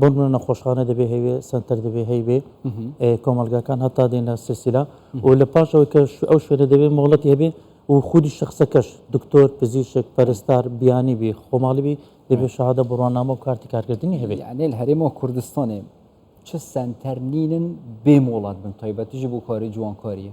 بۆ نمونە نەخۆشخانە دەبێ هەیبێ، سەنتەر دەبێ هەیبێ، کۆمەڵگاکان هەتا دێنە سلسیلە و لە پاش ئەوەی کە ئەو شوێنە دەبێ مۆڵەتی هەبێ و خودی شخصەکەش دکتۆر پزیشک پەرستار بیانی بی خۆماڵی بی دەبێ شەهادە بڕوانامە و کارتی کارکردنی هەبێ یانێل هەرێمەوە کوردستانێ چ سەنتەر نینن بێ مۆڵەت بن تایبەتیژی بۆ کاری جوانکاریە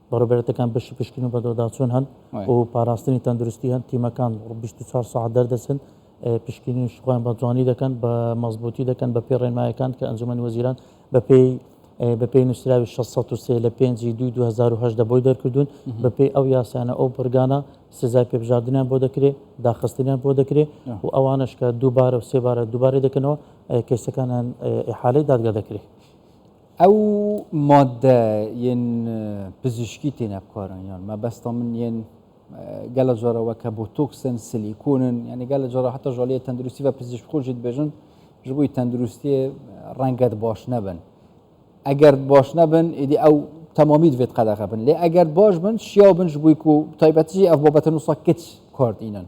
بەڕێوبەرێتەکان بەشی پشکنین و بەدواداچوون هەن و پاراستنی تەندروستی هەن، تیمەکان بیست و چوار سەعات دەردەچن پشکنین و شوخۆیان بە جوانی دەکەن بە مەزبوتی دەکەن بە پێی ڕێنمایەکان کە ئەنجومەنی وەزیران بەپێی بەپێی نووسراوی 603 لە 5 دوی 2010 دەبۆی دەرکردوون بەپێی ئەو یاسانە ئەو بڕگانە سزای پێبژاردنیان بۆ دەکرێت داخستنیان بۆ دەکرێت و ئەوانش کە دووبارە و سێبارە دووبارە دەکەنەوە کەسەکانیان ئحالەی دادگا دەکرێت. ئەو ماددە یەن پزیشکی تێنە بکارن یان مەبەستا من یەن گەلە جۆرەوە کە بۆ تۆکسن سلیکۆنن یعنی گەلە جۆرە هەتا ژالیە تەندروستی بە پزیشک خۆشیت بێژن ji بووی تەندروستی ڕەنگەت باش نەبن ئەگەر باش نەبن ئیدی ئەو تەمامیت بێت قەدەغە بن لێ ئەگەر باش بن شیاو بن ji بووی و تایبەتی ئەف بابەتە نووسە کچ کارد ئینن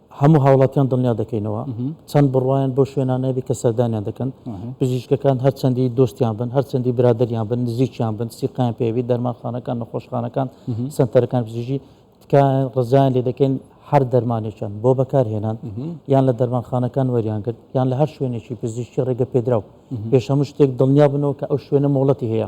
هەموو هاوڵاتیان دڵنیا دەکەینەوە چەند بڕوایان بۆ شوێنانە هەبێت کە سەردانیان دەکەن، پزیشکەکان هەرچەندی دۆستیان بن، هەرچەندی برادەریان بن، نزیکیان بن، سیقەیان پێبێت، دەرمانخانەکان، نەخۆشخانەکان، سەنتەرەکانی پزیشکی تکایە ڕزایان لێ دەکەین هەر دەرمانێکیان بۆ بەکارهێنان یان لە دەرمانخانەکان وەریان کرد یان لە هەر شوێنێکی پزیشکی ڕێگەپێدراو پێش هەموو شتێک دڵنیا بنەوە کە ئەو شوێنە مۆڵەتی هەیە.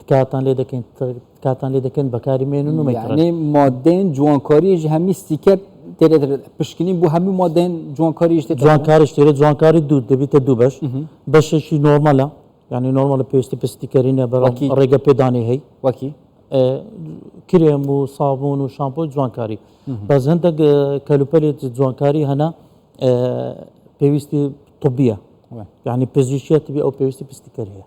تکاتان لێ دەکەین تکاتان لێ دەکەن بەکاری مێنن و مەکڕێ مادەن جوانکاریش هەمی ستیکەر پشکنین بۆ هەموو مادەن جوانکاریش جوانکاری شتێرە جوانکاری دوو دەبیتە دوو بەش بەشێکی نۆرمەلە ینی نۆرمەلە پێویستی پستیکەرینە بەڵکی ڕێگە پێدانی هەی وەکی کرێم و سابون و شامپۆ جوانکاری بەس هەندێک کەلوپەلێت جوانکاری هەنا پێویستی طبیە یعنی پزیشیەتی ئەو پێویستی پستیکەر هەیە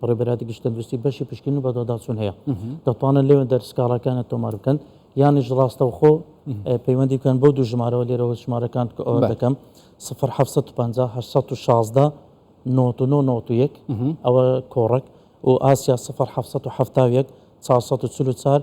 بەڕێوبەرایەتی گشت تەندروستی بەشی پشکنین و بەدواداچوون هەیە دەتوانن لێوەندەر سکاڵاکانە تۆمار بکەن یانیش ڕاستەوخۆ پەیوەندی بکەن بۆ دوو ژمارەوە لێرەوە ژمارەکان ئەوە دەکەم 1950 1991 ئەوە کۆڕک و ئاسیا 1970 444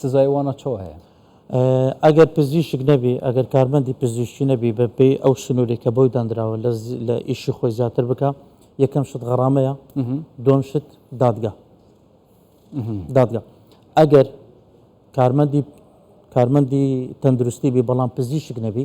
سزای وا نە چەوە هەیە. ئەگەر پزیشک نەبی، ئەگەر کارمەندی پزیشکی نەبی بە پێی ئەو سنوری کە بۆی دانراوە لە لە ئیشی خۆی زیاتر بکا، یەکەم شت غەڕامەیە، دووەم شت دادگا. دادگا. ئەگەر کارمەندی کارمەندی تەندروستی بی بەڵام پزیشک نەبی،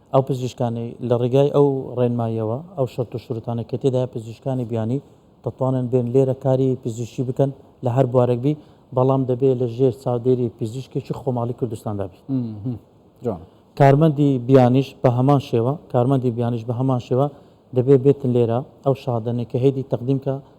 ئەو پزیشکانەی لە ڕێگای ئەو ڕێنماییەوە ئەو شەرت و شروتانەی کە تێدایە پزیشکانی بیانی دەتوانن بێن لێرە کاری پزیشکی بکەن لە هەر بوارێک بی بەڵام دەبێ لە ژێر چاودێری پزیشکێکی خۆماڵی کوردستاندا بی کارمەندی بیانیش بە هەمان شێوە کارمەندی بیانیش بە هەمان شێوە دەبێ بێتن لێرە ئەو شادەنێک کە هێدی تەقدیم کە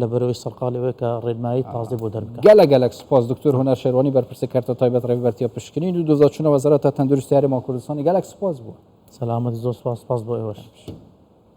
لە بەرەوەی سەرقاڵی ئەوەیە کە ڕێنمایی تازەی بۆ دەربکات. گەلە گەلەک سپاس دکتۆر هونەر شێروانی بەرپرسی کەرتە تایبەت ڕێڤبەرتیە پشکنین و دزەچونە وەزارەتە تەندروستی هەرێم و کوردستانی گەلەک سپاس بۆ سەلامەت زۆر سپاس سپاس بۆ ئێوەش.